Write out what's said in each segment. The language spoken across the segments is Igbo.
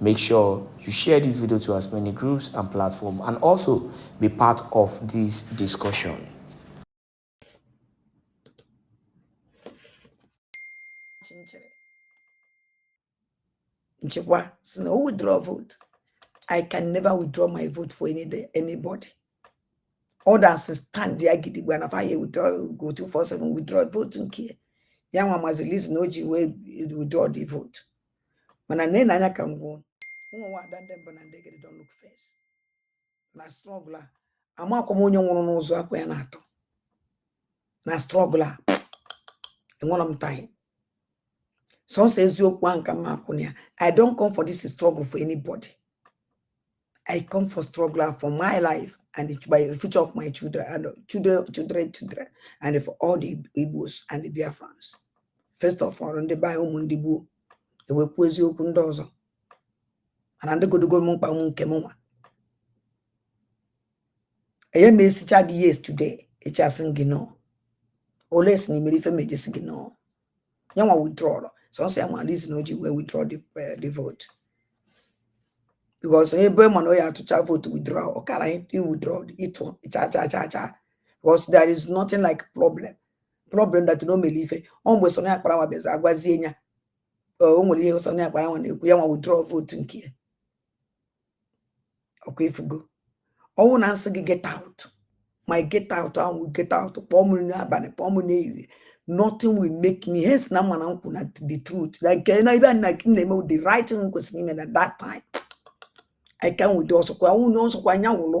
Make sure you share this video to as many groups and platforms and also be part of this discussion. Nchekwa so no withdraw vote. I can never withdraw my vote for any day, anybody. Others stand there gidigba na fire withdraw go 247 withdraw vote nke. Ya nwa mazilizi na o ji withdraw the vote. mana nee na anya ka m gwa unu mụnwa ada ndị mbụ na ndị egede don't look face na struggle a amakwa m onye nwụrụ n'ụzọ akwa ya na-atọ na struggle a enwerọ m time sọsọ eziokwu ahụ ka m akwụ na ya i don't come for this struggle for anybody I come for struggle for my life and the, by the future of my children and uh, children, children, children, and for all the Igbos and the Biafrans. First of all, ndị be ụmụ ndị Igbo e wee kwuwezie okwu ndị ọzọ mana ndị godogo m mkpa ụmụ nke m nwa anaghị m asịcha gị yes today echi asị gị no unless na i mere ife m eji sị gị no ya nwa withdrawal sọsọ ya ma reason o ji wee withdraw the, uh, the vote because ebe ọ ma na ọ ya-atụcha vote withdraw ọ kara withdraw ịtụ cha cha cha cha because there is nothing like problem problem that na o mere ife ọ mgbe Sunny Akparawa bịazi agwazie ya o nwere ihe Sunny Akparawa na-ekwu ya nwa withdraw vote nke ya ọkwa ị fụgo ọ wụ na m sị gị get out my get out a wụ get out kpọọ m n'abalị kpọọ m n'ehihie nothing will make me hence na m ma na m kwụ na the truth like eh, na ibe na m na-eme the right thing kwesịrị ime na that time i can with ọ sọkwa unu ọ sọkwa onye ọ wụlụ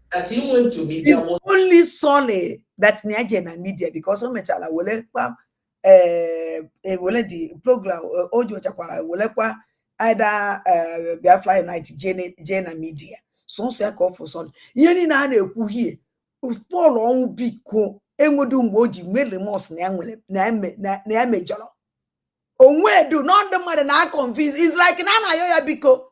that he went to media was only sorry that na o jere na media because o mechara were kwa eh, eh, were the program eh, o nyochakwara were kwa either Biafra Unite jee na media sọsọ ya ka ọ feel sorry ihe niile a na-ekwu here Paul Onwubiko o nwedu mgbe o ji nwee remorse na ya nwere na ya mejọrọ o nwedu na ndị mmadụ na-aconfuse is like na a na-ayọ ya biko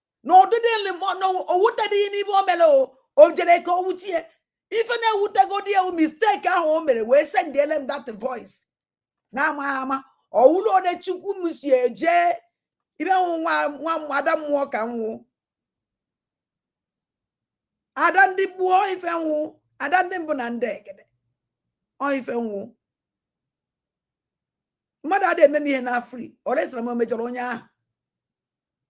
na ọ dịdị na o wutedịghị ya n'ibe o mere o jere ka o wute ya ife na-ewutegodi ya wụ mistake ahụ o mere wee sendiele m that voice na-amaghị ama ọ wụrụ onye chukwu m si eje ibe m wụ nwa ada mmụọ ka m wụ ada ndị gboo ife m wụ ada ndị mbụ na ndị egede ọ ife m wụ mmadụ adịghị eme m ihe na free ọ resịra m mejọrọ onye ahụ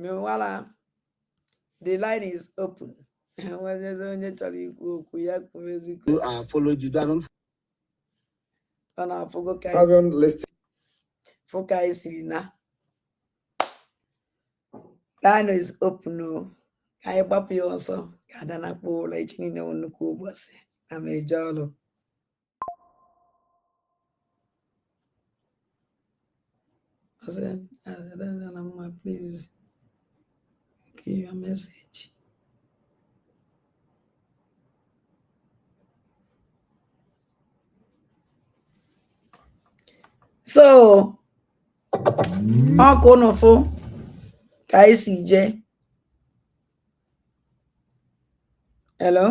meanwhile the line is open e nwezie onye chọrọ ikwu okwu ya kwuwezikwu You are followed. You don't unu afụgo ka anyị Having listened, fụ ka anyị siri na line is open o ka anyị gbapụ ya ọsọ ka ada nakpuo ụla echi niine wụ nnukwu ụbọsị na m ga-eje ọrụ Hassan, Alamma, please give your message. So, ọkwa unu fụ ka e si jee Hello?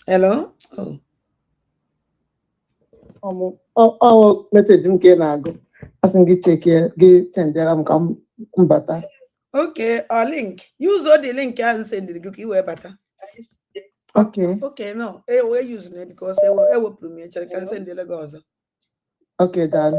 Hello? Oh. ọ wụ meseji nke na-agụ asị m gị chekie gị sendịara m ka m bata Okay, ọ link. Use old link ahụ sendiri gị ka i wee bata. ok Okay, no, e wee use na because e we- ewepụrụ m ya chere ka m sendịrị gị ọzọ. ok daalụ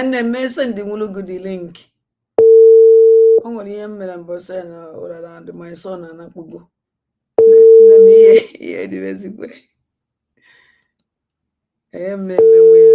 nne m esendịwụrụ gị dị link o nwere ihe m mere mbọsị ya na ụrara and my son anakpugo nne m ihe ihe dịrị ezigbo ihe m na-eme nwe ya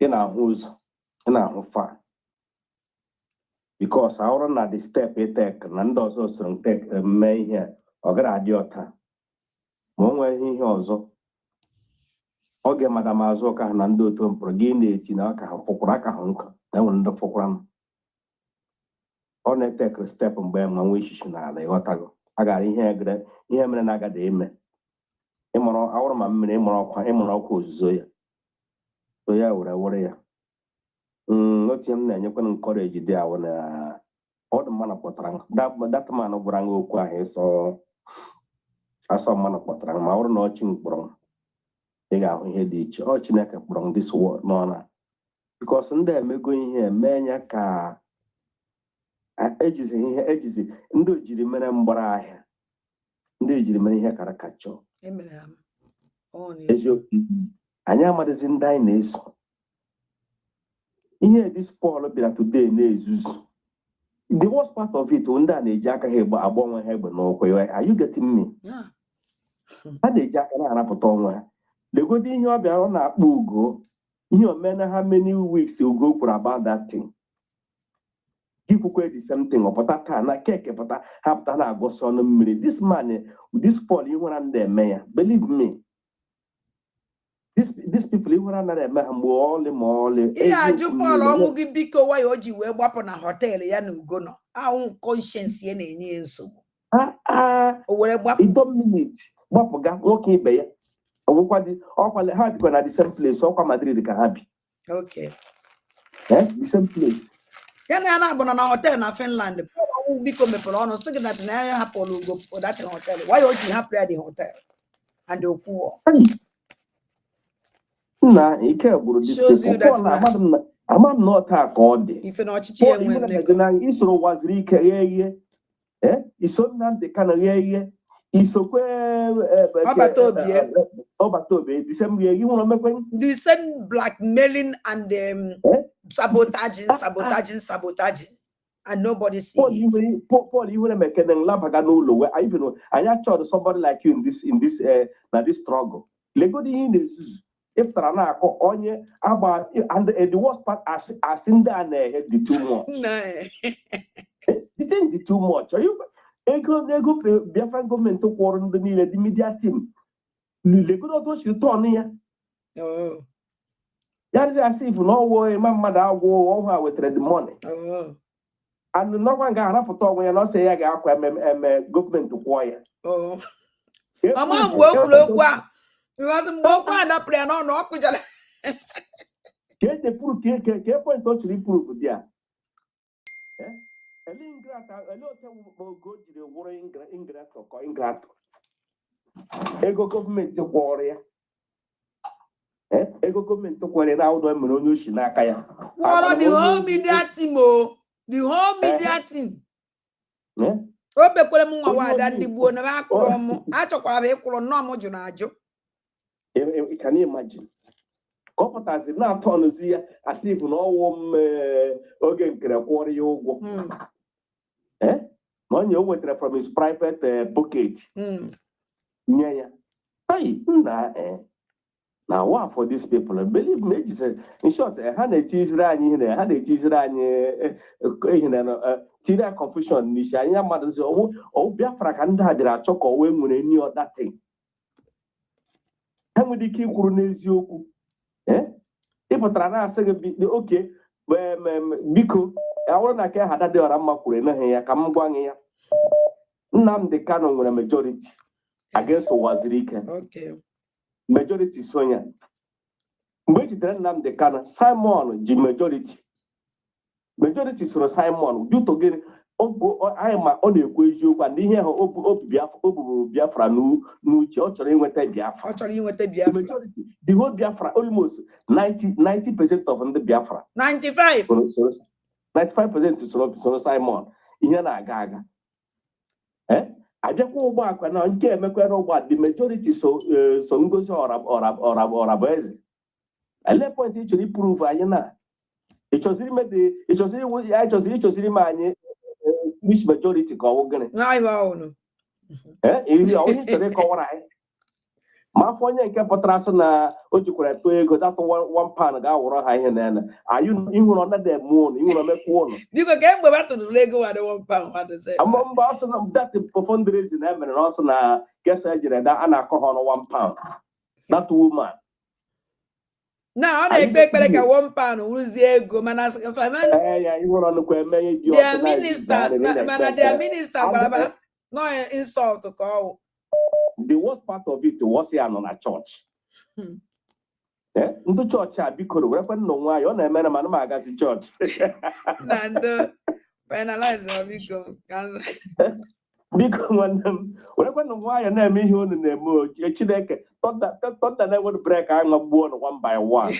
ị na-ahụ ụzọ ị na-ahụ far bikos a wụrụ na the step i tekere na ndị ọzọ soro tek mme ihe a, ọ gara adị ọta ma o nweghị ihe ọzọ oge Madam Azụka ha na ndị otu mpụrụ gị na-eti na aka ha fụkwara aka ha nkụ na enwere ndị fụkwara m ọ na-etekịrị step mgbe ma nwee ishishi n'ala ịghọtago a gara ihe egere ihe mere na agada eme ịmụrụ awụrụ ma mmiri ịmụrụ ọkwa ịmụrụ ọkwa ozuzo ya so ya were were ya mm, otu m na-enyekwa m nkọreji dị awụ na ọ dị mmanụ kpọtara m dat man gwara m okwu ahụ ịsọ asọ mmanụ kpọtara m ma ọ bụrụ na ọ chi m kpọrọ m ị ga-ahụ ihe dị iche ọ Chineke kpọrọ ndị sowo n'ọla bikos ndị emego ihe mee ya ka ejizi ihe ejizi ndị ojiri mere mgbara ahịa ndị ejiri mere ihe caricature eziokwu anyị amadịzi ndị anyị na-eso ihe dis Pọl bịara today na-ezuzu the worst part of it ndị a na-eji aka ha agba onwe ha egbe n'ụkwụ are you getting me ha na-eji aka na-arapụta onwe ha legodi ihe ọ bịara ọ na-akpọ Ugo ihe o meena how many weeks Ugo kwuru about that thing ikwukwe the same thing ọ pụta taa na keke pụta ha pụta na-agọsị ọnụ mmiri this man this Paul ihere anaghị eme ya believe me these people ihere anaghị eme ha mgbe ọlị ma ọlị ihe ajụ Paul ọnwụ gị biko why o ji wee gbapụ na họteelụ ya na Ugo nọ ahụ conscience ya na-enye ya nsogbu ah, ah. o were gbapụ ido miniti gbapụga nwoke ibe ya ọgwụkwa dị ọkwa ha bikwa na the same place ọkwa Madrid ka ha bi Okay. Eh? The same place. ya na ya naabọ nọ na họtel na Finland Paul Onwubiko mepere ọnụ sị gị that na ya hapụrụ Ugo for that hotel why o ji hapụ ya the hotel and o kwuo Nna ike gwụrụ dị Shows you that na- amadị m na ama m na ọta ka ọ dị ife na ọchịchị Paul enwe Ibeneme dị mmekọ na i soro Uwazuruike rie ihe eh, i so Nnamdi Kanu rie ihe i sokwa eh, eh, Ọbataobie eh, Ọbataobie the same ihe nwere omekwe the same blackmailing and um, eh? sabotaging ah, ah. sabotaging sabotaging and nobody see Paul it. Paul, Paul ihere mekene nlabaga n'ụlọ wee anyị bịara anyị achọrọ somebody like you in this in this uh, na this struggle legodi ihe na-ezuzu ị pụtara na-akọ onye agba and eh, the worst part asị asị ndị a na-ehe dị too much the thing dị too much ego n'ego Biafra gọọmenti kwụrụ ndị niile dị media team legodi otu o siri turn ya oh. ya dịzi as if na ọ wụ ịma mmadụ agwụ ọhụụ a wetara the money oh. anụ n'ọkwa nga arapụta onwe ya na ọsọ ya ga-akwa ememe eme gọọmenti kwụọ ya Oh. Efu Mama bụ mgbe o kwuru okwu a because mgbe okwu a dapụrụ ya n'ọnụ ọ kụjara ka eji pụrụ ka eke ka point ọ chọrọ prove there Eh? Ele ingrate ele oke wụkpa oge o jiri wụrụ ingra- ingrate kọ ingrate ego gọọmenti kwụrụ ya Eh, ego gọọmenti kwụrụ ya ụgwọ mere onye o shi n'aka ya kwụọrọ the whole media team o. The whole media team. Eh? O bekwere m nwa Onye wada ọbụla ndị ikwu. gbuo na m akụrụ m. Achọkwara m ịkwụrụ nnọọ m jụrụ ajụ. E- e- can you imagine ka ọ pụtazi na-atọ ọnụzi ya as if na ọ wụ m eh, Oge Nkere kwụọrọ ya ụgwọ Mm. eh? na onye o wetara from his private eh, pocket hmm. nye ya hei nna eh, na wa for these people believe me ejizere in short ha na-etiziri anyị ihe ha na-etiziri anyị ihe na tiri a confusion n'isi anya mmadụ sị ọ wụ Biafra ka ndị a bịara achọ ka ọ wụ e nwere any other thing ha nwere ike ikwuru n'eziokwu eh? ị pụtara na-asị gị okay biko ọ wụrụ na ka ha dị ọra mma kwuru emeghị ya ka m gwa gị ya Nnamdi Kanu nwere majority against Uwazuruike majority so ya mgbe e jidere Nnamdi Kanu Simon ji majority majority soro Simon due to gịnị anyị ma ọ na-ekwu eziokwu and ihe ahụ o bu Biafra n'uche ọ chọrọ inweta Biafra majority the whole Biafra almost 90 percent of ndị Biafra 95 95 percent soro Simon ihe na-aga aga eh? abịakwa ugbu a kwa na nke emekwere ugbu a the majority so eh, Ngozi Ọrabụeze ele point ị chọrọ iprove anyị na ịchọziri mebe ịchọziri iwu- ya ịchọziri ịchọziri ma anyị eh, which majority ka ọwụ gịnị N'ahịa ọhụrụ. Eh, iri a, onye chọrọ ịkọwara anyị ma afọ onye nke pụtara sị na o jikwara tụọ ego that one pound ga-awụrụ ha ihe na ya na ayụ ihere ọ nadị eme ụnụ ihere omekwa ụnụ Biko ka mgbe ba tụrụla ego wadị one pound wadị sị. ama mba ọ sị na that fundraising e mere na ọ sị na gesa ejere da a na-akọ ha ọnụ one pound that woman na ọ na-ekpe ekpere ka one pound wụrụzie ego mana mana their minister gwara ba na insult ka ọwụ the worst part of it was ya nọ na chọọchị hmm. eh, ndị chọọchị a bikoro werekwanụ nwayọ na-emere mana m agazi chọọchị biko nwanne m werekwanụ nwayọ na-eme ihe unu na-eme ochie chineke thunder na-enwere brake agbagbuo unu one by one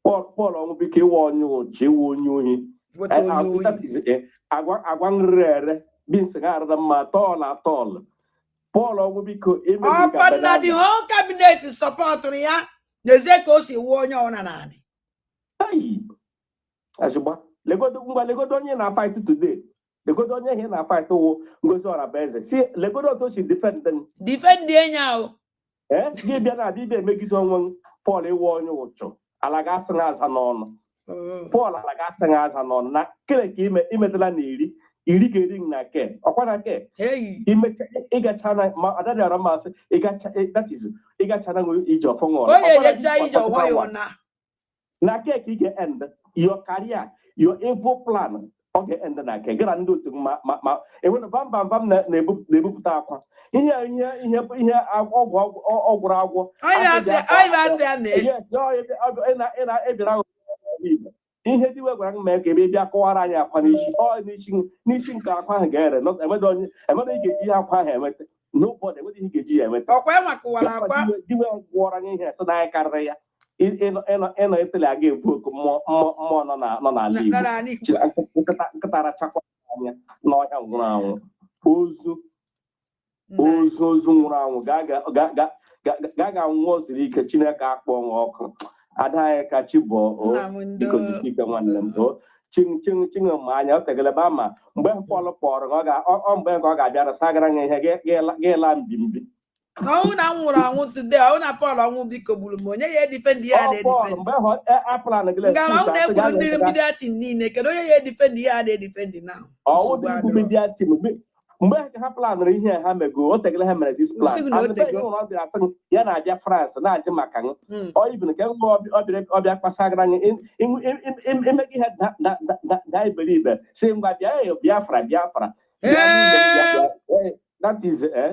Paul Paul Ọnwụbiko ị wụ onye ụchụ ị wụ onye ohi agwa nrịrị ere bins ha arara mma at all at all Paul Ọnwụbiko ọ kwa na the whole cabinet supportụrụ ya n'ezie ka o si wuo onye ọna naanị legodo ngwa legodo onye na-afight today legodo onye ị na-afight wụ Ngozi Ọrabụeze si legodo otu o si defend m defend enyi ahụ ee gị bịa na adịbịa emegide onwe m Paul ị wụ onye ụchụ ala ga-asị na aza n'ọnụ oh. Paul ala ga-asị na aza n'ọnụ na kele ka ime imetela na iri iri ga-eri na ke ọkwa na ke imecha ịgacha na ma adadị ara mmasị ịgacha na iji ọfọ ṅụrụ onye ejecha ije ụwa ya na na ke ka ị ga-end your career your evil plan ọ ga-end na nke gara ndị otu ma ma ma enwere bambam bam na-ebupụta akwa ihe ihe ihe ihe ọgwụ ọ gwọrọ agwọ ebira ihe dị we gwara m mee ka ebe bịa kọwara anyị akwa n'isi ọ n'isi n'isi nke akwa ahụ ga-ere emere ị ga-eji ihe akwa ahụ enweta nobody enweghị ihe ga-eji ya emeta ọkwa enwa kụwara akwa diwe gwọrọ anyị ihe sị na anyị karịrị ya ịnọ etele aga ebu oku mmụọ nọ n'ala Igbo nkịta rachakwa anya n'ọhịa nwụrụ anwụ ozu ozu ozu nwụrụ anwụ ga ga nwụọ zuru ike Chineke akpọọ nwa ọkụ ada anyị ka chi bọọ biko jisi ike nwanne m ching ching ching ma anya o tegele ba ma mgbe Paul kpọrọ gị, ọ ga- ọ- ọ mgbe nke ọ ga-abịara sagara gị ihe gị- gị la- gị laa mbimbi ọ wụ na m nwụrụ anwụ today ọ wụ na Paul ọnwụ biko gburu m onye ya edefend ya ọ Paul na-edefend mgbe hụ aplan gị ngara ọ na-egburu ndị media team niile kedu onye ya edefend ya na-edefend na ọ wụ nsogbu dị igbu adịrọ media team mgbe ha ka ha planụrụ ihe a ha mego o tegala ha mere this plan M sị gị na o And the tego. person ọ bịara sị m, ya na-abịa France na-ajụ maka m Mm. ọ even ka mgbe ọ bịara ọ bịa kpasagara anyị im- im- im- im- im- ime gị ihe da- da- da- da- daa iberibe sị ngwa bịa eh, Biafra Biafra Bịa n'ime m, bịa- bịa. Eh, that is eh,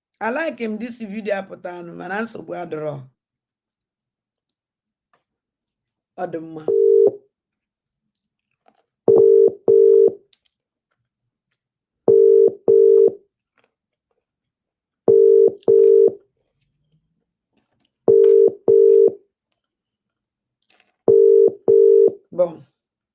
A like m this video apụtanụ mana nsogbu adịrọ ọ dị mma Bon.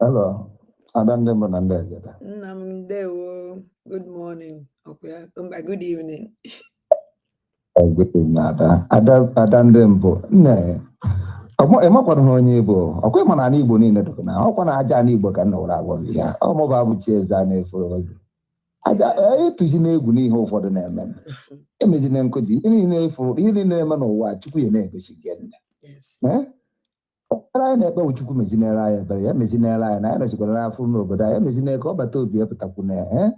Hello, ada ndị mbụ na ndị agada. Nna m ndewo, good morning, ọkwa mba good evening. Oh, good evening, ada. Ada, ada ndị mbụ, nne, ị makwa na onye Igbo, ọkwa ị ma na ana Igbo niile dịkwa na ọkwa na aja ana Igbo ka nna were agwa gị ya, ọ mụba bụ chi eze a na-efere gị. Ada, atụzina egwu n'ihe ụfọdụ na-eme, emezina nkụzi, ihe niile ị fụ, ihe niile na-eme n'ụwa, Chukwu ya na-egosi gị nne. ekpere anyị na-ekpe bụ Chukwu mezinere anyị ebere ya mezinere anyị na anyị nọchikwara n'afọ n'obodo anyị mezinere ka ọ bata obi ya pụtakwu na ya ee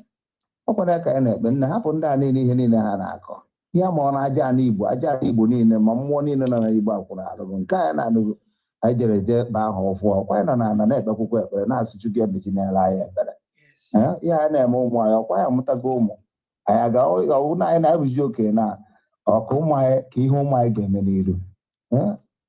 ọkwa ya ka anyị na-ekpe nna hapụ ndị a niile ihe niile ha na-akọ ihe ma ọ na aja ana Igbo aja ana Igbo niile ma mmụọ niile nọ na Igbo akwụrụ arụrụ nke anyị na-anụgo anyị jere je ba ahụ ụfụ ọkwa anyị nọ na ana na-ekpekwukwa ekpere na-asị Chukwu ya mezinere anyị ebere Yes. Ee, ihe anyị na-eme ụmụ anyị ọkwa anyị amụtago ụmụ anyị aga ọ wụ na anyị na-arụzi oke na ọkụ ụmụ anyị ka ihe ụmụ anyị ga-eme n'iru Ee,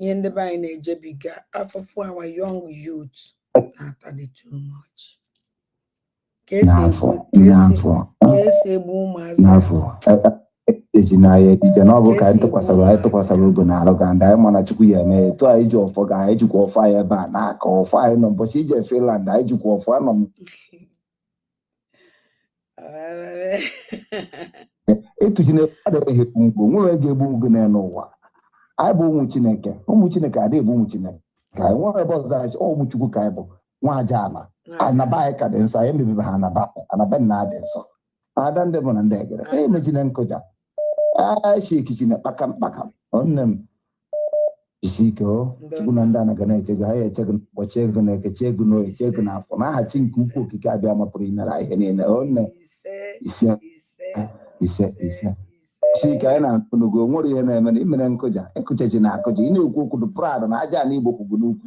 ihe ndị be anyị na-ejebiga afụfụ our young youth na-atali too much ka esi egbu ka esi egbu ụmụazị eji n'ahịa ejije na ọ bụ ka anyị tụkwasara anyị tụkwasara obi na alụ ga ndị anyị mana Chukwu ya eme etu anyị ji ọfọ ga anyị jikwa ọfọ anyị ebe a na-aka ọfọ anyị nọ ụbọchị ị je Finland anyị jikwa ọfọ anọ m etuchi na adịghị ekwu mgbe nwere ego egbu mgbe na n'ụwa anyị bụ ụmụ chineke ụmụ chineke adịghị bụ ụmụ chineke ka anyị nwere ebe ọzọ anyị ụmụ chukwu ka anyị bụ nwa aja ala anaba anyị ka dị nsọ anyị emebibe ha anaba anaba nna adị nsọ ada ndị bụ na ndị egere emechina nkụja achikichina kpakam kpakam nne m jisi ike o chukwu na ndị ana ga na-eche gị ha ya eche gị na nkwọ chee gị n'eke chee gị n'oye chee gị n'afọ n'aha chi nke ukwu okike abịama pụrụ imere anyị ihe niile o nne ise ise ise si ka anyị na-atụ n'ugo o nwere ihe na-eme na imere nkụja ịkụcha ji na akụja ị na-ekwu okwu dị proud na aja na igbo kwugbu n'ukwu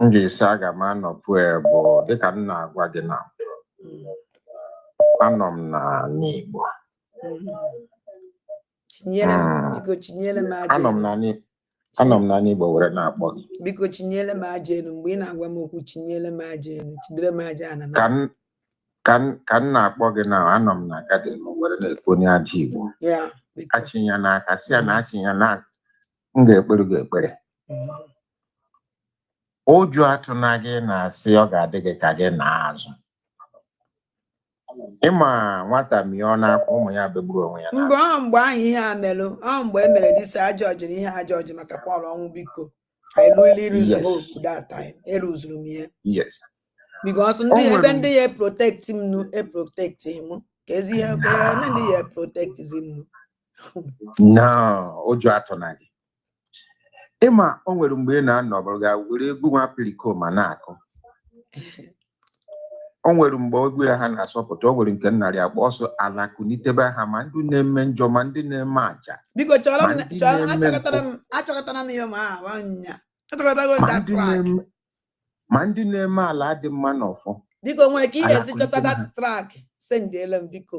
m ga-esi aga m anọpụ ya bụ dịka m na-agwa gị na anọ m n'ana Igbo chinyere m Mm. biko chinyere m aja anọ m elu na n'I- anọ m n'ana Igbo were na-akpọ gị biko chinyere m aja elu mgbe ị na-agwa m okwu chinyere m aja elu chidere m aja ana ka na m ka m ka m na-akpọ gị na anọ m na garden m were na-ekwu onye ajọ Igbo ya biko achịnya n'aka si ya na achịnya na m ga-ekpere gị ekpere Mm. ụjọ atụna gị na-asị ọ ga-adị gị ka gị na azụ ịma nwata mịọ n'akwa ụmụ ya begburu onwe ya mgbe ọ mgbe ahụ ihe a merụ ọ mgbe e mere disa ajọ ọjị na ihe ajọ ọjị maka Pọl Onwubiko I really lose Yes. hope that time eruzuru m ihe yes because ndị O ebe nwere- ndị ya protect m nu e protect m ka ezi ihe ka ya ndị ya protect zi m nu no ụjọ atụna gị ịma o nwere mgbe ị na-anọ ọbụrụ ga were egwu nwa Pericoma na-akụ o nwere mgbe egwu ya ha na-asọpụta o nwere nke nnarị akpọ ọsọ ala kunitebe ha ma ndị na-eme njọ ma ndị na-eme aja biko chọrọ m Ma ndị chọrọ na-eme achọkọtara m achọkọtara m ya ma ahụ anya achọkọtago ma that ndị track na-eme ma ndị na-eme ala dị mma na ọfọ biko nwere ka ị Ala ga-esi chọta kwalitere that ha. track sendiele m biko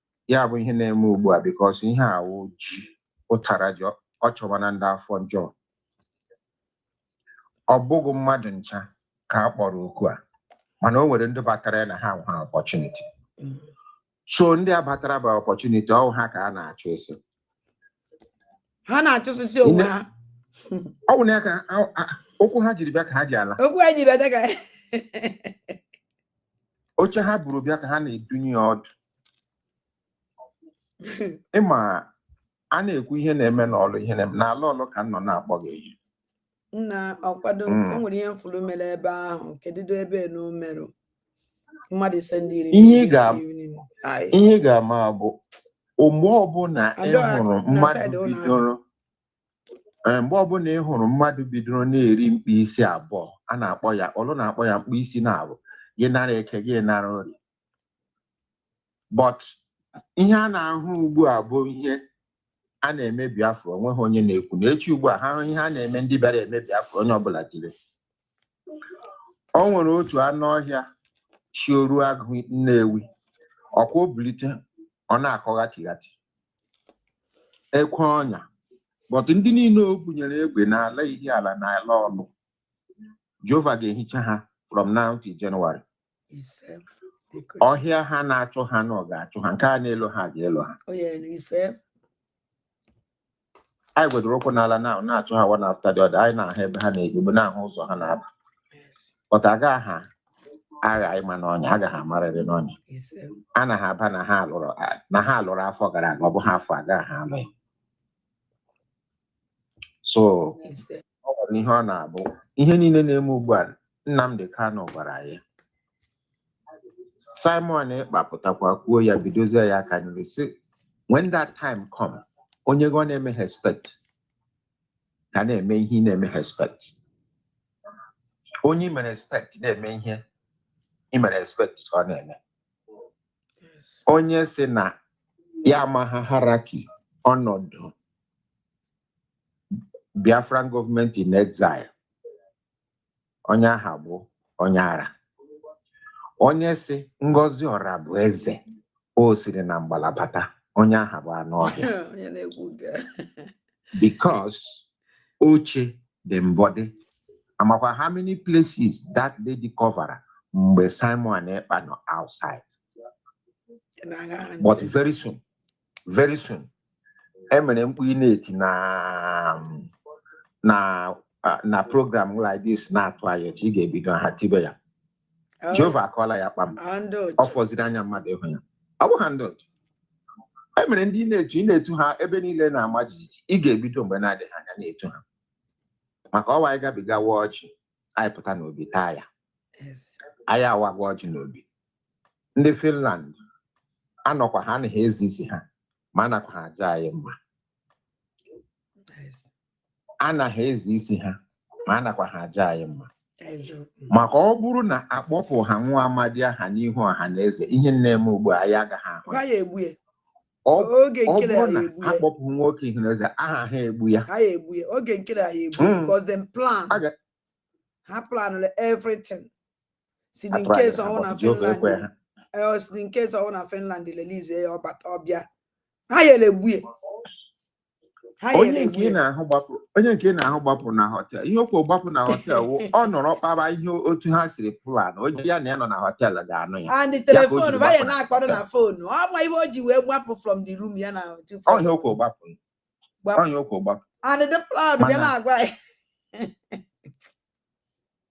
ya bụ ihe na-eme ugbu a because ihe a wụ ji ụtara ji ọ chọwa na ndị afọ njọ ọ bụghị mmadụ ncha ka a kpọrọ oku a mana o nwere ndị batara ya na ha nwere opportunity so ndị a batara by opportunity ọ wụ ha ka a na-achụ isi ha na-achụsịsị onwe ha ọ bụ na ya ka okwu ha jiri bịa ka ha ji ala okwu ha ji bịa ka oche ha buru bịa ka ha na-edunye ọdụ ịma a na-ekwu ihe na-eme n'Ọlụ ihe na-eme n'ala Ọlụ ka m nọ na-akpọ gị eyi nna ọkwado o mm. nwere ihe m furu mere ebe ahụ kedụdo ebe na o merụ mmadụ ise ndị iri ihe ị ga-ama bụ mgbe ọbụla ị hụrụ mmadụ bidoro eh, mgbe ọbụla ị hụrụ mmadụ bidoro na-eri mkpịsị abụọ a na-akpọ ya Ọlụ na-akpọ ya mkpịsị naabụ gị nara eke gị nara ori but ihe a na-ahụ ugbu a bụ ihe a na-eme Biafra onweghị onye na-ekwu na echi ugbu a ha hụ ihe a na-eme ndị bịara eme Biafra onye ọbụla jiri o nwere otu anụ ọhịa si oru agụ Nnewi ọkwa o bulite ọ na-akọ ghachighati ekwe ọnya but ndị niile o bunyere egbe n'ala ihe ala na ala ọlụ Jehova ga-ehicha ha from now till January ise biko ọhịa ha na-achụ ha na ọ ga-achụ ha nke a na-elu ha ga-elu ha o nyere ise anyị gwedoro ụkwụ n'ala na-achụ ha one after the other anyị na-ahụ ebe ha na-ebibu na-ahụ ụzọ ha na-aba yes, but agaghị ha agha ịma n'ọnya aga ha amarịrị n'ọnya ise a na ha aba na ha alụrụ na ha alụrụ afọ gara aga ọ bụ ha afọ a agaghị ha alụ ya so o nwere ihe ọ na-abụ ihe niile na-eme ugbu a Nnamdi Kanu gwara ya Simon Ekpa pụtakwa kwuo ya bidozie ya aka nri sị when that time come onye gị ọ na-eme respect ka na-eme ihe ị na-eme respect onye ị mere respect na-eme ihe ị mere respect ka ọ na-eme onye sị na ya amaghị hierarchy ọnọdụ Biafran government in exile onye aha bụ onye ara onye sị Ngozi Orabueze o siri na mgbala bata onye aha bụ anụ ọhịa onye na-ekwu nke a. because oche dị mbọdị amakwa how many places that lady cover mgbe Simon Ekpa nọ outside na-aṅa ha but ntị. very soon very soon emere mkpu ị na-eti na na na program like this na-atụ anya echi ị ga-ebido ha tibe ya oh. Jehova akọọla ya kpam ọ fọziri anya mmadụ ịhụ ya ọ bụ handled e mere ndị na-etu ị na-etu ha ebe niile na-ama jijiji ị ga-ebido mgbe na-adịghị anya na-etu ha maka ọwa anyị gabigawa ọjị anyị pụta n'obi taa ya anyị awago ọjị n'obi ndị Finland anọkwa ha a na ha eze isi ha ma anakwa ha aja anyị mma a na ha eze isi ha ma anakwa ha aja anyị mma maka ọ bụrụ na akpọpụ ha nwa amadi aha n'ihu ọha na eze ihe na-eme ugbu a ya agaghị ahụ ọ bụrụ na akpọpụ nwoke ihu na eze aha ha egbu ya hmm. ha planụrụ everything sị in case ọ wụ na Finland eh, sị in case ọ wụ na Finland release ya ọ bata ọ bịa ha ya-egbu ya onye nke ị na-ahụ gbapụ onye nke ị na-ahụ gbapụ na họtel ihe okwu gbapụ na họtel wụ ọ nọrọ kpara ihe otu ha siri plan onye ya na ya nọ na họtel ga-anụ ya and the telefon banye na-akpọrọ na fonu ọ ma ihe o ji wee gbapụ from the room ya na onye okwu gbapụ onye okwu gbapụ and the plan bịa na-agwa ya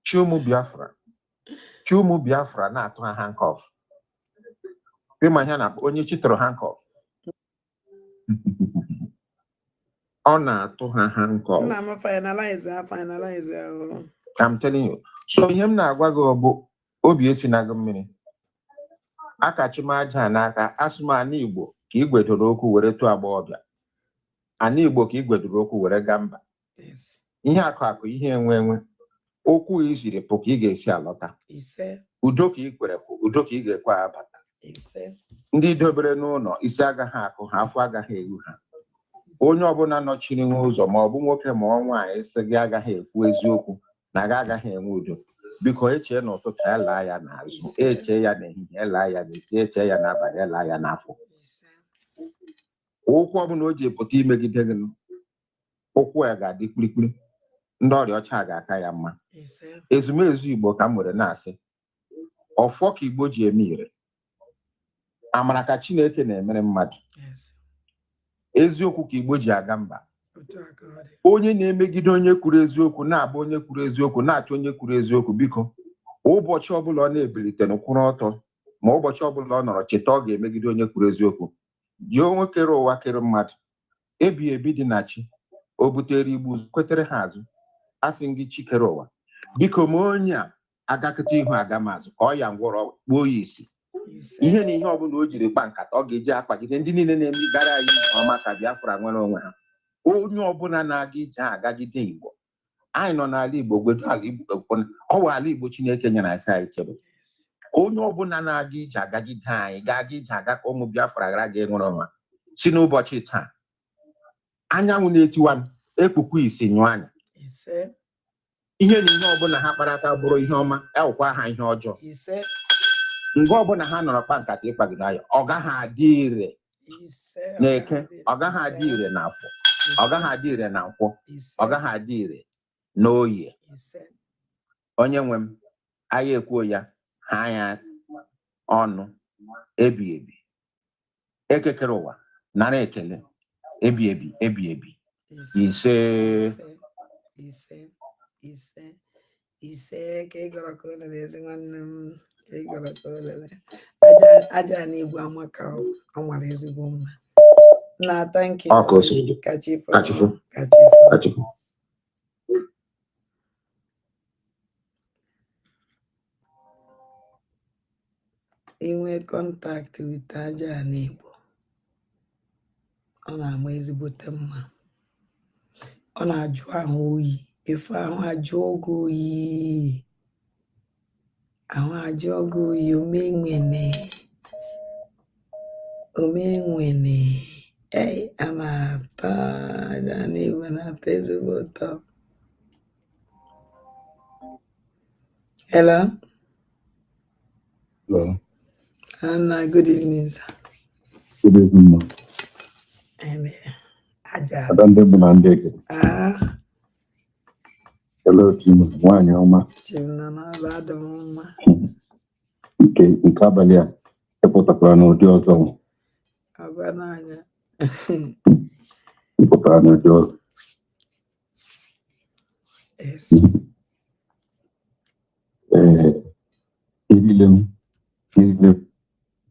chi ụmụ biafra chi ụmụ biafra na-atụ ha handcuff ị ma ihe na onye chi tụrụ handcuff ọ na-atụ ha handcuff I'm telling you so ihe m na-agwa gị bụ obi esina gị mmiri akachi m aja n'aka asụ m ana igbo ka igwedoro okwu were tụọ agbọghọbịa ana igbo ka igwedoro okwu were gaa mba ihe akụ akụ ihe enwe enwe ụkwụ i siri pụ ka ị ga-esi alọta udo ka ị kwere pụ udo ka ị ga-ekwe abata ndị dobere n'ụlọ isi agaghị akụ ha afọ agaghị eru ha onye ọbụla nọchiri n'ụzọ ma ọ bụ nwoke ma ọ nwaanyị sị gị agaghị ekwu eziokwu na gị agaghị enwe udo biko echee n'ụtụtụ elaa ya n'azụ eche ya n'ehihie elaa ya n'isi eche ya n'abalị elaa ya n'afọ ụkwụ ọbụla o ji pụta imegide gị ụkwụ ya ga-adị kpirikpiri ndị ọrịa ọcha ga-aka ya mma ezumezu igbo ka m nwere na-asị ọfọ ka igbo ji eme ire amara ka chineke na-emere mmadụ eziokwu ka igbo ji aga mba onye na-emegide onye kwuru eziokwu na-abụ onye kwuru eziokwu na-achọ onye kwuru eziokwu biko ụbọchị ọbụla ọ na-ebilite kwụrụ ọtọ ma ụbọchị ọbụla ọ nọrọ cheta ọ ga-emegide onye kwuru eziokwu gị onye kere ụwa kere mmadụ ebighị ebi dị na chi o butere Igbo ụzọ kwetere ha azụ asị m gị chi kere ụwa biko ma onye a agakọta ihu aga m azụ kụọ ya ngwọrọ kpuo ya isi ihe na ihe ọbụla o jiri kpa nkata ọ ga-eji akpagide ndị niile na-eme gara anyị nke ọma ka Biafra nwere onwe ha onye ọbụla na-aga ije agagide Igbo anyị nọ n'ala Igbo gwetu ala Igbo ekpọna ọ wụ ala Igbo Chineke nyere anyị sị anyị chebe onye ọbụla na-aga ije agagide anyị ga-aga ije aga ka ụmụ Biafra ghara ga enwere onwe ha si n'ụbọchị taa anyanwụ na-etiwa m, ekpukwa isi nyụọ anya ise ihe na ihe ọbụla ha kpara aka bụrụ ihe ọma awụkwa ha ihe ọjọọ ise mgbe ọbụla ha nọrọ kpa nkata ịkpagide anyị ọ gaghị adị ire n'eke ọ gaghị adị ire n'afọ ọ gaghị adị ire na nkwọ ọ gaghị adị ire n'oye onye nwe m anyị ekwuo ya ha anya ọnụ ebi ebi eke kere ụwa nara ekele ebi ebi ebi ebi ise ise ise ise ka ị gọrọ ka olele ezi nwanne m ka ị gọrọ ka olele Aja- aja ana Igbo amaka ọ ọ mara ezigbo mma na thank you Ọ ka o si dị. ka chi fọ Ka chi fọ. ka chi fọ Achịkwa. inwe contact with aja ana Igbo ọ na-ama ezigbote mma ọ na-ajụ ahụ oyi efe ahụ ajụọ gị oyi ahụ ajụọ gị oyi omenwene omenwene ei a na-ata aja ana Igbo na-atọ ezigbo ụtọ Hello? Hello. And uh, good evening, sir. Good evening, ma. And uh, Aja. Adande Bunandeke. Ah. Hello, team. Nwanyị ọma. Team na na-aba adị m mma. Nke nke abalị a ịpụtakwara n'ụdị ọzọ. Agwa n'anya. Ịpụtara n'ụdị ọzọ. Yes. Ee, erile m erile m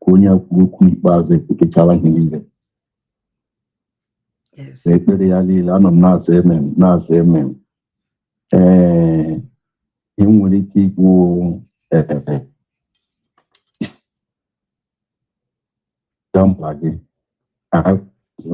ka onye a kwuru okwu ikpeazụ kwuchara ihe niile Yes. na ekpere ya niile anọ m na-aza amen na-aza amen ee ihe m nwere ike ikwu ee ga mkpa gị azụ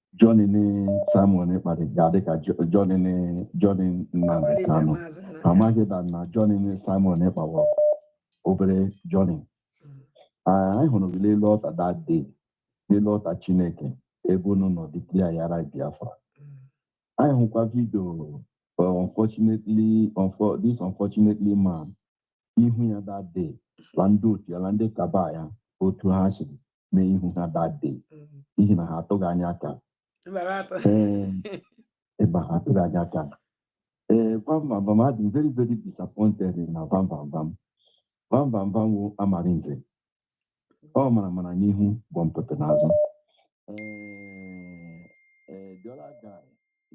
Journey Simon Ekpa ga-adị ka jo- journey journey Nnamdi Kanu amaghị na na journey Simon Ekpa wụ obere journey Ah, anyị hụrụ gị n'elu altar that day n'elu altar Chineke ebe unu nọ declare-ara Biafra anyị hụkwa vidio uh, unfortunately unfor this unfortunately man ihu ya that day la ndị otu ya la ndị cabal ya otu ha siri mee ihu ha that day n'ihi na ha atụghị anya aka ebe ha atụghị anya aka ee Vanvanvan adị m very very disappointed na Vanvanvan Vanvanvan wụ Amarinze ọ maramara n'ihu gwọmpịtị n'azụ the other guy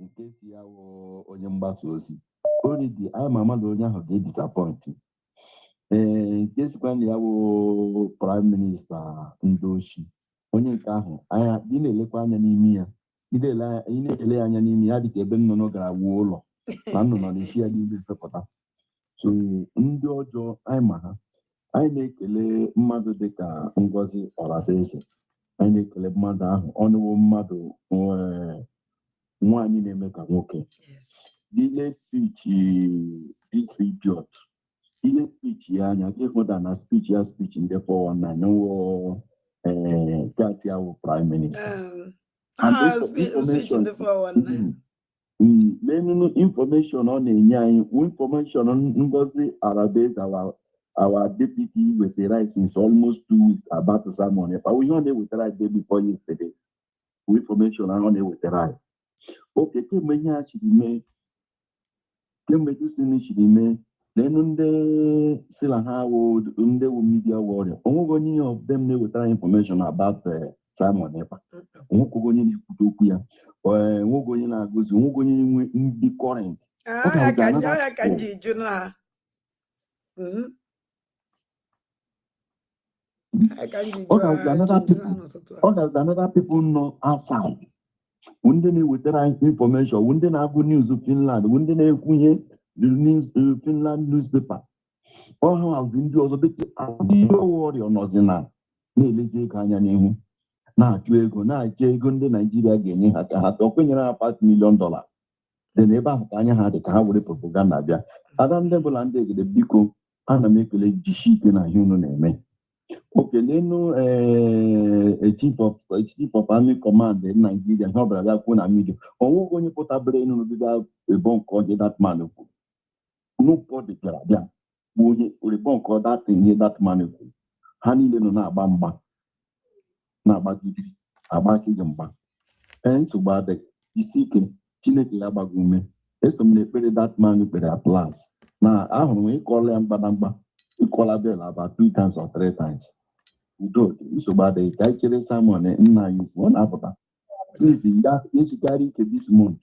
nke sị ya wụ onye mgbasa ozi already anyị ma ama na onye ahụ ga-edisappoint ee nke sịkwa na ya bụ prime minister ndị oshi onye nke ahụ anya ị na-elekwa anya n'imi ya ị na-ele anya- ị na-ele ya anya n'imi ya dịka ebe nnụnụ gara wuo ụlọ na nnụnụ na-esi ya n'ime fepụta so ndị ọjọọ anyị ma ha anyị na-ekele mmadụ dịka Ngozi Ọrabụeze anyị na-ekele mmadụ ahụ ọnụwo mmadụ nwee nwaanyị na-eme ka nwoke ile speech this idiot ile speech ya anya gị hụta na speech ya speech ndị 419 n'ụwa ee ga-asị ọ wụ prime minister And Ah, info- speech, speech ndị 419. Mm, lenunu information ọ na-enye anyị information Ngozi Orabueze our our deputy wetara since almost two weeks about Simon Ekpa ihe ọ na-ewetara anyị day before yesterday bụ infọmeshọn ahụ ọ na-ewetara anyị oke kemgbe ihe a chiri mee kemgbe disini chiri mee lenu ndị sị na ha wụ ndị wụ midia wọrịa onweghị onye of them na-ewetara anyị infọmeshọn about eh, Simon Ekpa onweghị onye na-ekwute okwu ya eh, onweghị onye na-agụzi onweghị onye nwe ndị kọrent Ọ ga-abụ ka another ya ka m ji jụ na Mhm. another people nọ outside wụ ndị na-ewetara anyị infọmeshọn wụ ndị na-agụ news Finland wụ ndị na-ekwu ihe uh, Finland newspaper ọha hazi ndị ọzọ dịka ndị wọrịa nọzi na na-elezi ego anya n'ihu na-achụ ego na-achọ ego ndị Naijiria ga-enye ha ka ha tọọ kwenyere ha five milion dọla dị na ebe ahụ ka anya ha dị ka ha were propaganda bịa ada ndị Igbo na ndị Igede biko ana m ekele jisi ike na ihe unu na-eme oke lenu ee chief of chief of army command naijiria ihe ọbụla bịa kwuo na midia onweghị onye pụtabere enu bido debunk ihe dat man kwuru nobody bịara bịa bụ onye debunk dat ihe dat man kwuru ha niile nọ na-agba mgba na-agbagide agbasi gị mgba ee nsogbu adịghị jisi ike chineke ya gbaa gị ume eso m n'ekpere dat man kpere at last na ahụrụ m ị kụọla ya mgbịrịmgba ị kụọla bell about two times or three times udo dị nsogbu adịghị ka anyị chere simon nna anyị ukwu ọ na-apụta please ya esikarị ike this month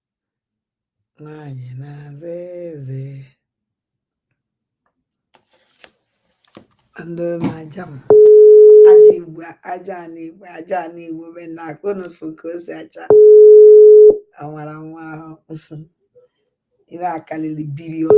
Nwaanyị na-aza eze. Ndị ọma aja m. Aja Igbo, aja ana Igbo, aja ana Igbo bịanụ ka unu fụ ka o si acha. Ọ nwara nwa ahụ. Ibe a karịrị bilion.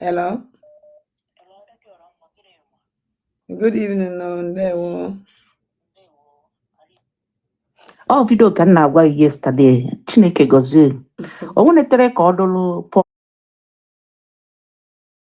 Hello. Good evening nu, ndewo. Ọ vidio ka m na-agwa gị yesterday Chineke gọzie o nwenetere ka ọ dụrụ Pọl